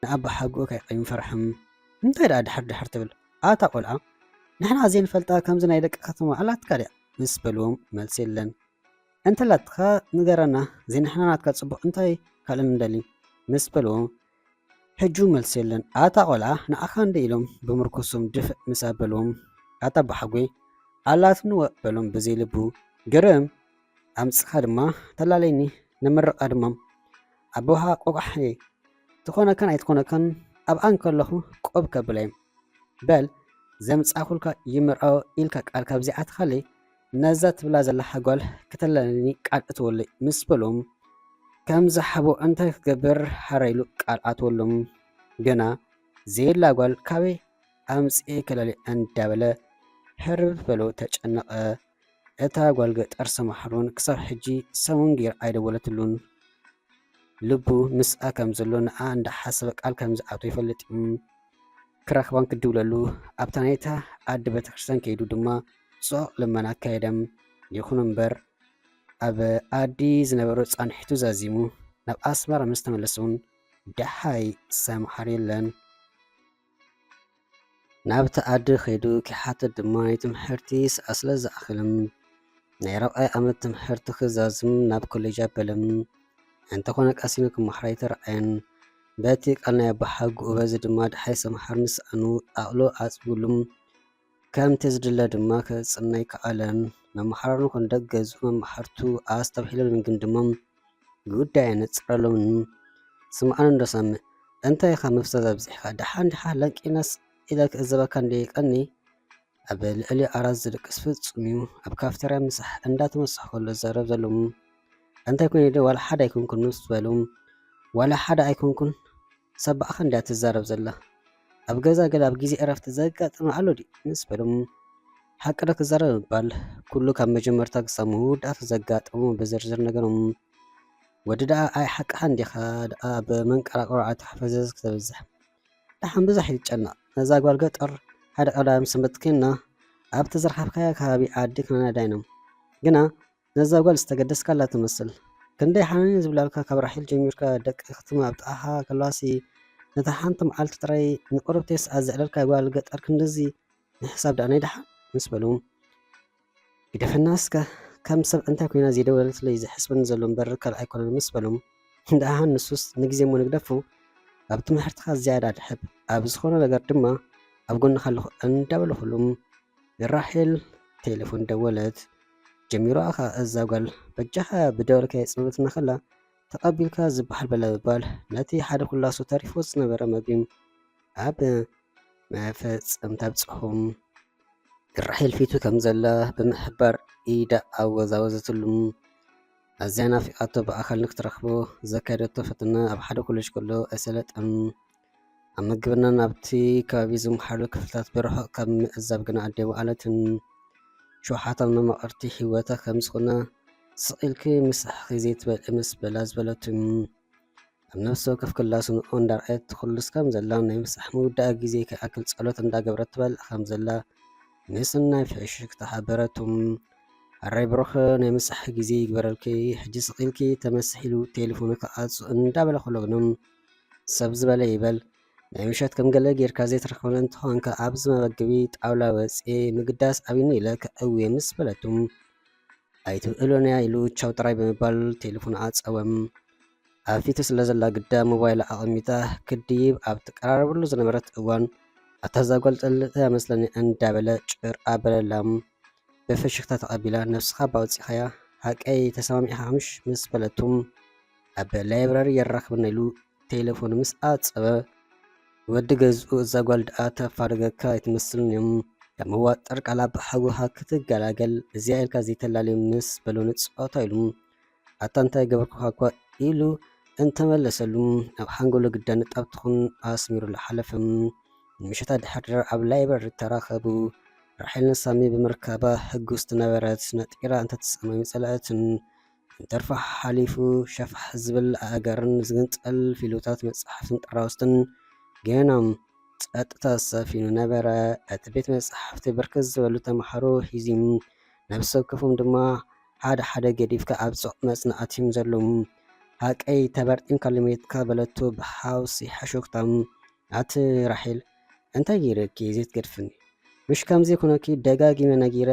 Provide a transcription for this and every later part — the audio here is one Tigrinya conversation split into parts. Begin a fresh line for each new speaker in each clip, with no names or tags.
ንኣባሓጎ ከይ ኣይንፈርሕን እንታይ ደኣ ድሓር ድሓር ትብል ኣታ ቆልዓ ንሕና ዘይንፈልጣ ከምዚ ናይ ደቂ ከተማ ኣላትካ ድያ ምስ በልዎም መልሲ የለን እንተላትካ ንገረና ዘይንሕና ናትካ ጽቡቕ እንታይ ካልእ ንደሊ ምስ በልዎ ሕጂ ውን መልሲ የለን ኣታ ቆልዓ ንዓካ እንድዩ ኢሎም ብምርኩሶም ድፍእ ምስ ኣበልዎም ኣታ ኣቦሓጎይ ኣላትኒ ወእ በሎም ብዘይ ልቡ ግርም ኣምጽካ ድማ ተላልየኒ ንምርቃ ድማ ኣቦካ ቆቋሕ እየ ትኮነካን ኣይትኮነካን ኣብኣ እንከለኩ ቆብ ከብላ እየ በል ዘምጻኩልካ ይምርዖ ኢልካ ቃልካ ብዘይ ዓትካለይ ነዛ ትብላ ዘለኻ ጓል ክተለለኒ ቃል እትወለይ ምስ በሎም ከምዚ ሓቦ እንታይ ክገብር ሓራ ኢሉ ቃል ኣትወሎም ገና ዘየላ ጓል ካበይ ኣምፅኤ ከለልያ እንዳበለ ህርብርብ በሎ ተጨነቐ እታ ጓል ገጠር ሰማሕሩን ክሳብ ሕጂ ሰሙን ገይራ ኣይደወለትሉን ልቡ ምስኣ ከም ዘሎ ንኣ እንዳሓሰበ ቃል ከም ዝኣቶ ይፈልጥ እዩ ክረኽባን ክድውለሉ ኣብታ ናይታ ኣደ ቤተክርስትያን ከይዱ ድማ ጾቕ ልመና ኣካየደም። ይኹን እምበር ኣብ ኣዲ ዝነበሮ ጻንሒቱ ዛዚሙ። ናብ ኣስመራ ምስ ተመለሰውን ደሃይ ዝሰምዓሉ የለን። ናብታ ኣዲ ከይዱ ኪሓትት ድማ ናይ ትምሕርቲ ሰዓት ስለ ዝኣኸለም ናይ ራብዓይ ዓመት ትምሕርቲ ክዛዝም ናብ ኮሌጅ ኣበለም። እንተኾነ ቀሲኑ ክመሃር ኣይተራእየን። በቲ ቃል ናይ ኣባሓጉኡ በዚ ድማ ደሃይ ሰምሃር ምስ ሰኣኑ ኣእሎ ኣጽብሉም። ከምቲ ዝድለ ድማ ክጽዕና ኣይከኣለን። መማህራኑ ኮነ ደገዙ መማህርቱ ኣስተብሂሎምን ግምግሞም ጉዳይ ኣነጸረሎምን። ስምዓኒ እንዶ ሳሚ፣ እንታይ ኢኻ ምፍዛዝ ኣብዚሕካ፣ ደሓን ዲኻ ለንቂነስ ኢለ ክእዘበካ እንድየ ቀንየ። ኣብ ልዕሊ ዓራት ዝድቅስ ፍጹም'ዩ፣ ኣብ ካፍተርያ ምሳሕ እንዳተመሳሕኩ ከሎ ዝዛረብ ዘሎ'ሞ እንታይ ኮይነ ድየ ዋላ ሓደ ኣይኮንኩን ምስ በሎም፣ ዋላ ሓደ ኣይኮንኩን ሰባ'ኻ እንድያ ትዛረብ ዘላ። ኣብ ገዛ ገለ ኣብ ግዜ ዕረፍቲ ዘጋጥም ኣሎ ድዩ ምስ በሎም ሓቂ ዶ ክዛረብ ምባል ኩሉ ካብ መጀመርታ ክሳብ መወዳእታ ዘጋጠሙ ብዝርዝር ነገሮም ወዲ ደኣ ኣይ ሓቅኻን ዲኻ ደኣ ብመንቀራቅሮ ኣተሓፈዘዝ ክተብዝሕ ደሓን ብዙሕ ይጨነቕ ነዛ ጓል ገጠር ሓደ ቀዳም ሰንበት ኮይና ኣብቲ ዝረኸብካያ ከባቢ ዓዲ ክነዳይኖም ግና ነዛ ጓል ዝተገደስካላ ትመስል ክንደይ ሓነኒ ዝብላልካ ካብ ራሒል ጀሚርካ ደቂ ክትም ኣብ ጥቓኻ ከለዋሲ ነታ ሓንቲ መዓልቲ ጥራይ ንቁርብቴስ ኣዘዕለልካ ጓል ገጠር ክንድዚ ንሕሳብ ደኣ ናይ ደሓን ምስ በሉ ግደፈና እስከ ከም ሰብ እንታይ ኮይና ዘይደወለትለይ ዝሕስበኒ ዘሎ እምበር ካልእ ኣይኮነን ምስ በሉ ደኣ ንሱስ ንግዜ እሞ ንግደፉ ኣብ ትምህርትኻ ዝያዳ ድሕብ ኣብ ዝኾነ ነገር ድማ ኣብ ጎንኻ ኣለኹ እንዳበሉ ኩሉም ንራሒል ቴሌፎን ደወለት ጀሚሩ ኣኻ እዛ ጓል በጃኻ ብደወልካዮ ጽምብትና ከላ ተቐቢልካ ዝበሃል በለበባል ነቲ ሓደ ኩላሱ ተሪፎ ዝነበረ መግቢ ኣብ መፈጸምታ ኣብጽሑም ራሄል ፊቱ ከም ዘላ ብምሕባር ኢዳ ኣወዛወዘትሉ። ኣዝያ ናፊቓቶ ብኣካል ንክትረኽቦ ዘካየደቶ ፈተና ኣብ ሓደ ኮለጅ ከሎ ኣይሰለጠን። ኣብ መግብና ናብቲ ከባቢ ዝምሓሉ ክፍልታት ብርሑቕ ካብ ምዕዛብ ግና ኣዴ ወዓለትን ሸውሓታን መማቕርቲ ሂወታ ከም ዝኾነ ስቕ ኢልኪ ምስ ኣሕኺ ዘይትበልዒ ምስ በላ ዝበለቱ ኣብ ነፍሲ ወከፍ ክላ ስንኦ እንዳርኣየት ኩሉስ ከም ዘላ ናይ ምሳሕ ምውዳኣ ግዜ ከይኣክል ጸሎት እንዳገበረት ትበልዕ ከም ዘላ ምስ ናይ ፍሕሽክታ ሓበረቱ ኣራይ ብሩኽ ናይ ምሳሕ ግዜ ይግበረልኪ ሕጂ ስቕ ኢልኪ ተመስሒሉ ቴሌፎኑ ክዓጹ እንዳበለ ከሎ ግና ሰብ ዝበለ ይበል ናይ ምሸት ከም ገለ ጌርካ ዘይትረኽበኒ እንተኾንካ ኣብዚ መመገቢ ጣውላ ወፅየ ምግዳስ ኣብዩኒ ኢለ ከእውየ ምስ በለቱ ኣይትብእሎንያ ኢሉ ቻው ጥራይ ብምባል ቴሌፎን ኣፀወም። ኣብ ፊቱ ስለ ዘላ ግዳ ሞባይላ ኣቐሚጣ ክድይብ ኣብ ትቀራረበሉ ዝነበረት እዋን ኣታ ዛጓል ጠልጠ መስለኒ እንዳበለ ጭር ኣበለላ። ብፍሽኽታ ተቐቢላ ነብስኻ ባውፂኻያ ሃቀይ ተሰማሚዕኻ ምሽ ምስ በለቱ ኣብ ላይብራሪ የራኽብና ኢሉ ቴሌፎኑ ምስ ኣጸበ ወዲ ገዝኡ እዛ ጓል ደኣ ተፋርገካ ኣይትመስልን እዮም ካብ መዋጠር ቃላ ብሓጎኻ ክትገላገል እዚኣ ኢልካ ዘይተላለዩ ምስ በሎ ንጸወታ ኢሉ ኣታ እንታይ ገበርኩኻ እኳ ኢሉ እንተመለሰሉ ኣብ ሓንጎሎ ግዳ ንጣብ ትኹን ኣስሚሩሉ ሓለፈ። ንምሸታ ድሕር ድር ኣብ ላይብረሪ ተራኸቡ። ራሒል ንሳሚ ብምርካባ ሕጉስቲ ነበረት። ነጢራ እንተትሰማሚ ጸላእትን እንተርፎ ሓሓሊፉ ሸፋሕ ዝብል ኣእጋርን ዝግንጸል ፊሉታት መጻሕፍትን ጥራውዝትን ገይኖም ጸጥታ ሰፊኑ ነበረ። እቲ ቤት መጻሕፍቲ ብርክት ዝበሉ ተመሃሮ ሒዙ፣ ነፍሰወከፎም ድማ ሓደ ሓደ ገዲፍካ ኣብ ጽዑቕ መጽናዕቲ'ዮም ዘለው። ሃቀይ ተበርጢምካ ለሚትካ በለቶ ብሓውሲ ሕሹኽታ። ኣቲ ራሄል እንታይ ገይረኪ ዘይትገድፍኒ? ምሽ ከምዚ ኩነኪ ደጋጊመ ነጊረ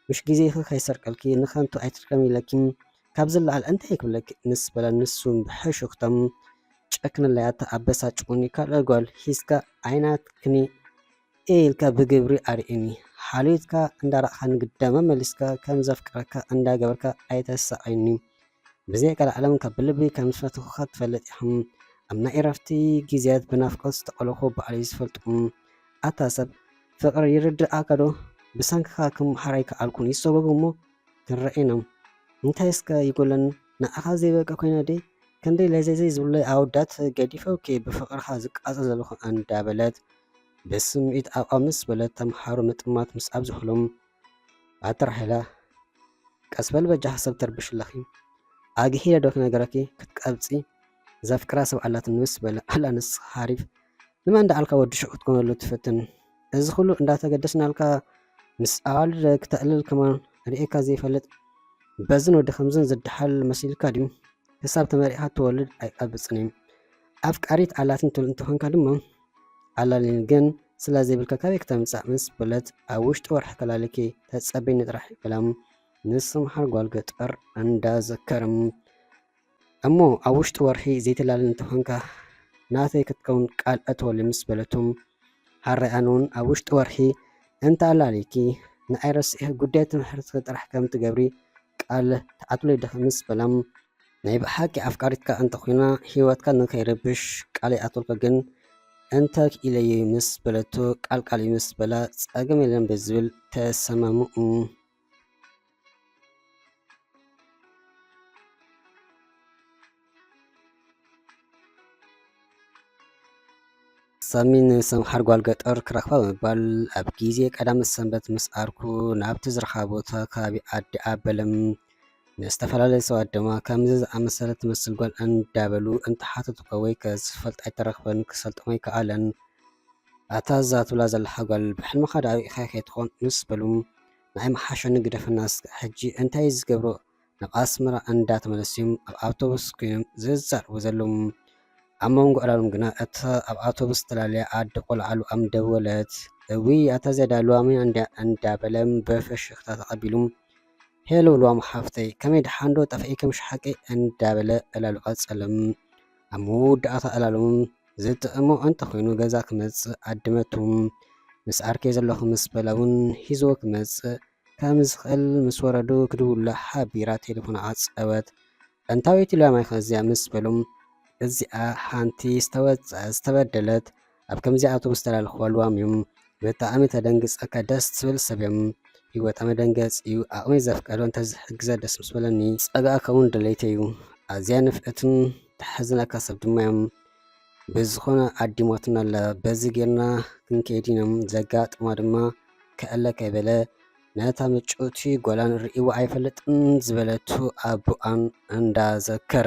ምሽ ግዜኺ ከይሰርቀልኪ ንከንቱ ኣይትድከሚ ኢለኪ ካብ ዝለዓል እንታይ ክብለኪ ምስ በለ ንሱውን ብሕሹኽታ ጨክነለይ ኣታ ኣበሳጭኹኒ ካልእ ጓል ሒዝካ ኣይናትክን'የ ኢልካ ብግብሪ ኣርእየኒ ሓልዮትካ እንዳራእኻኒ ግዳመ መሊስካ ከም ዘፍቅረካ እንዳገበርካ ኣይተሳቕየኒ ብዘይ ቀልዓለም ካብ ብልቢ ከም ዝፈትኹኻ ትፈልጥ ኢኻ ኣብ ናይ እረፍቲ ግዜያት ብናፍቆት ዝተቐለኹ ባዕለይ ዝፈልጦም ኣታ ሰብ ፍቕሪ ይርድኣካ ዶ ብሰንክኻ ክመሓር ኣይከኣልኩን ይሰጎግ እሞ ክንረኣየናም እንታይ እስከ ይጎለኒ ንዓኻ ዘይበቃ ኮይነ ደይ ክንደይ ለዘዘይ ዝብለይ ኣወዳት ገዲፈውኪ ብፍቕርኻ ዝቃጸል ዘለኹ ኣንዳበለት ብስምዒት ኣቋምስ በለት ተምሓሩ ምጥማት ምስ ኣብዝሑሎም ኣቲ ራሄላ ቀስ በል በጃኺ ሰብ ተርብሽ ኣለኺ ኣግሂለ ዶ ክነገረኪ ክትቀብጺ ዘፍቅራ ሰብ ኣላትኒ ምስ በለ ኣላ ንስኻ ሓሪፍ ንመን ደኣልካ ወዲ ሹቕ ክትኮነሉ ትፍትን እዚ ኩሉ እንዳተገደስናልካ ምስ ኣዋልድ ክተዕልል ከማን ርኤካ ዘይፈልጥ በዝን ወዲ ከምዝን ዝደሓል መሲልካ ድዩ ክሳብ ተመሪዕካ ትወልድ ኣይቀብጽን እዩ ኣፍቃሪት ኣላትኒ ትብል እንተኾንካ ድማ ኣላሊኒ ግን ስለ ዘይብልካ ካበይ ክተምጻእ ምስ በለት ኣብ ውሽጢ ወርሒ ከላልኪ ተጸበይኒ ጥራሕ በላ። ንሱ መሓር ጓል ገጠር እንዳ ዘከረ እሞ ኣብ ውሽጢ ወርሒ ዘይተላልን እንተኾንካ ናተይ ክትከውን ቃል እተወሉ ምስ በለቱ ሓራይ ኣነ እውን ኣብ ውሽጢ ወርሒ እንተ ኣላሊኪ ንኣይ ረሲዒ ጉዳይ ትምህርትኪ ጥራሕ ከም ትገብሪ ቃል ትዓትሉ ይድከምስ በላም ናይ ብሓቂ ኣፍቃሪትካ እንተ ኮይና ህይወትካ ንከይረብሽ ቃል ይኣትወልካ ግን እንተ ክኢለዩ ምስ በለቶ ቃል ቃል እዩ ምስ በላ ጸገም የለን ብዝብል ተሰማምኡ። ሳሚ ንሰምሓር ጓል ገጠር ክረኽባ ብምባል ኣብ ግዜ ቀዳመ ሰንበት ምስ ዓርኩ ናብቲ ዝረኽባ ቦታ ከባቢ ዓዲ ኣበለም ንዝተፈላለዩ ሰባት ድማ ከምዚ ዝኣመሰለ ትመስል ጓል እንዳበሉ እንተሓተቱካ ወይ ከዝፈልጥ ኣይተረኽበን ክሰልጦም ኣይከኣለን ኣታ እዛ ትብላ ዘለኻ ጓል ብሕልምኻ ዳኣ ርኢኻ ከይትኾን ምስ በሉ ንዓይ ምሓሸኒ ግደፈና እስከ ሕጂ እንታይ ዝገብሮ ናብ ኣስመራ እንዳተመለሱ'ዮም ኣብ ኣውቶቡስ ኮይኖም ዝዛረቡ ዘለዉ። ኣብ መንጎ ዕላሎም ግና እታ ኣብ ኣውቶቡስ ዝተላለያ ኣደ ቆልዓ ሉኣም ደወለት። እውይ ኣታ ዝያዳ ሉዋመይ እንድያ እንዳበለ ብፍሽኽታ ተቐቢሉ ሄሎ ሉዋም ሓፍተይ ከመይ ደሓንዶ ጠፊኤ ከም ሽሓቀይ እንዳበለ ዕላሉ ቀጸለ። ኣብ መወዳእታ ዕላሎም ዝጥዕሞ እንተኾይኑ ገዛ ክመጽእ ዓደመቱ። ምስ ዓርከይ ዘለኹ ምስ በላ እውን ሒዝዎ ክመጽእ ከም ዝኽእል ምስ ወረዱ ክድውሉላ ሓቢራ ቴለፎና ዓጸወት። ኣንታወይቲ ላማይ ከ እዚኣ ምስ በሉም እዚኣ ሓንቲ ዝተወጽዐት ዝተበደለት ኣብ ከምዚ ኣውቶቡስ ዝተላለኽዋ ልዋም ዩ። ብጣዕሚ ተደንግጸካ ደስ ትብል ሰብ ዮም። ሂወታ መደንገጺ ዩ ዓቕመይ ዘፍቀዶ እንተዝሕግዘ ደስ ምስ በለኒ። ጸጋኣካ ውን ድሌተይ ዩ። ኣዝያ ንፍዕትን ተሕዝነካ ሰብ ድማ ዮም። ብዝኾነ ኣዲሞትና ኣለ በዚ ጌርና ክንከይድ ኢኖም ዘጋጥማ ድማ ከእለ ከይበለ ነታ ምጭውቲ ጓላን ርእይዎ ኣይፈልጥን ዝበለቱ ኣቦኣን እንዳዘከረ